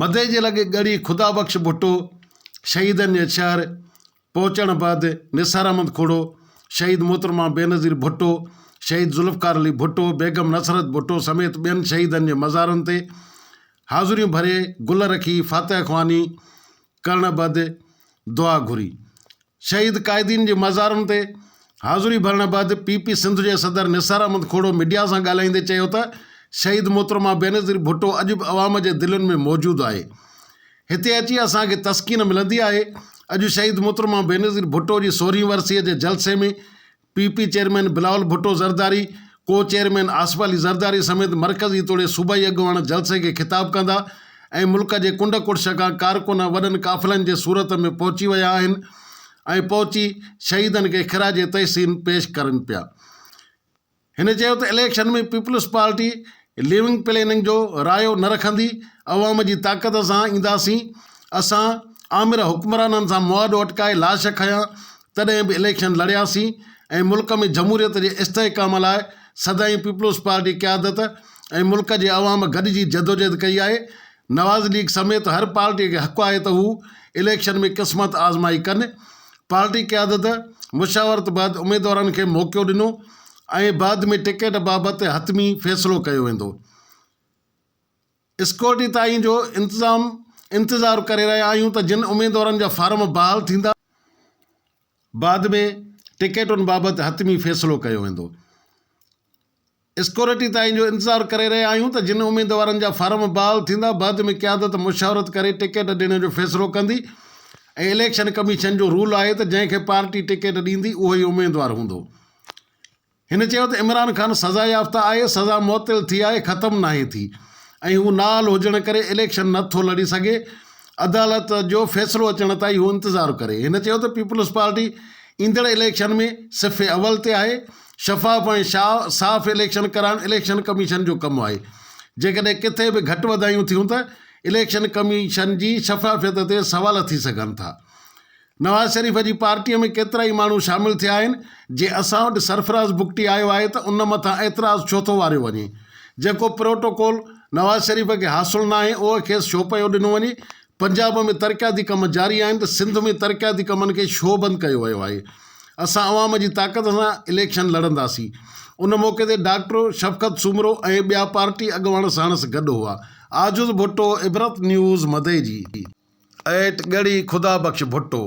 مدئي جي لڳ ڳڙهي خدا بخش ڀٽو شهيدن جي شهر پهچڻ بعد نثار احمد کوڙو، شهيد محترمه بينظير ڀٽو، شهيد ذوالفقار علي ڀٽو، بيگم نصرت ڀٽو سميت ٻين شهيدن جي مزارن تي حاضريون ڀري گل رکي فاتح خواني ڪرڻ بعد دعا گهري. شهيد قائدين جي مزارن تي حاضري ڀرڻ بعد پي پي سنڌ جي صدر نثار احمد کهڙو ميڊيا سان ڳالهائيندي چيو ته شهيد محترمه بينظير ڀٽو اڄ به عوام جي دلين ۾ موجود آهي هتي اچي اسان کي تسڪين ملندي آهي اڄ شهيد محترمه بينظير ڀٽو جي سورهين ورسيء جي جلسي ۾ P P chairman Bilawal Bhutto Zardari, co chairman Asif Ali Zardari سميت مرڪزي توڙي صوبائي اڳواڻ جلسي کي خطاب ڪندا ۽ ملڪ جي ڪنڊ ڪڙڇ کان ڪارڪن وڏن قافلن جي صورت ۾ پهچي ويا آهن ۽ پهچي شهيدن کي خراج تحسين پيش ڪرن پيا. هن چيو ته اليڪشن ۾ پيپلز پارٽي ليونگ پليننگ جو رايو نه رکندي عوام جي طاقت سان اينداسين اسان آمر حڪمرانن سان مواڊو اٽڪائي لاش کنيا تڏهن به اليڪشن لڙياسين ۽ ملڪ ۾ جمهوريت جي استحڪام لاء سدائين پيپلز پارٽي قيادت ۽ ملڪ جي عوام گڏجي جدوجهد ڪئي آهي نواز ليگ سميت هر پارٽي کي حق آهي ته هو اليڪشن ۾ قسمت آزمائي ڪن پارٽي قيادت مشاورت بعد اميدوارن کي موقعو ڏنو ۽ بعد ۾ ٽڪيٽ بابت حتمي فيصلو ڪيو ويندو. اسڪيورٽي تائين جو انتظام انتظار ڪري رهيا آهيون ته جن اميدوارن جا فارم بحال ٿيندا، بعد ۾ ٽڪيٽن بابت حتمي فيصلو ڪيو ويندو. اسڪيورٽي تائين جو انتظار ڪري رهيا آهيون ته جن اميدوارن جا فارم بحال ٿيندا بعد ۾ قيادت مشاورت ڪري ٽڪيٽ ڏيڻ جو فيصلو ڪندي ۽ اليڪشن ڪميشن جو رول آهي ته جنهن کي پارٽي ٽڪيٽ ڏيندي اهو ئي اميدوار هوندو هن چيو ته عمران خان سزا يافته آهي سزا معطل ٿي آهي ختم ناهي ٿي ۽ هو نااهل هجڻ ڪري اليڪشن نه ٿو لڙي سگهي عدالت جو فيصلو اچڻ تائين هو انتظار ڪري هن چيو ته پيپلز پارٽي ايندڙ اليڪشن ۾ صف اول تي آهي شفاف ۽ صاف اليڪشن ڪرائڻ اليڪشن ڪميشن جو ڪم آهي، جيڪڏهن ڪٿي به گهٽ وڌايون ٿيون ته اليڪشن ڪميشن جي شفافيت تي سوال ٿي سگهن ٿا، نواز شريف جي پارٽيء ۾ ڪيترائي ماڻهو شامل ٿيا آهن، جي اسان وٽ سرفراز بگٽي آيو آهي ته ان مٿان اعتراض ڇو ٿو واريو وڃي، جيڪو پروٽوڪول نواز شريف کي حاصل ناهي اهو کيس ڇو پيو ڏنو وڃي، پنجاب ۾ ترقياتي ڪم جاري آهن ته سنڌ ۾ ترقياتي ڪمن کي شوبند ڪيو ويو آهي، اسان عوام جي طاقت سان اليڪشن لڙنداسين. ان موقعي تي ڊاڪٽر شفقت سومرو ۽ ٻيا پارٽي اڳواڻ ساڻس گڏ هئا. عاجز ڀٽو عبرت نيوز مدئجي. ايٽ ڳڙهي خدا بخش ڀٽو.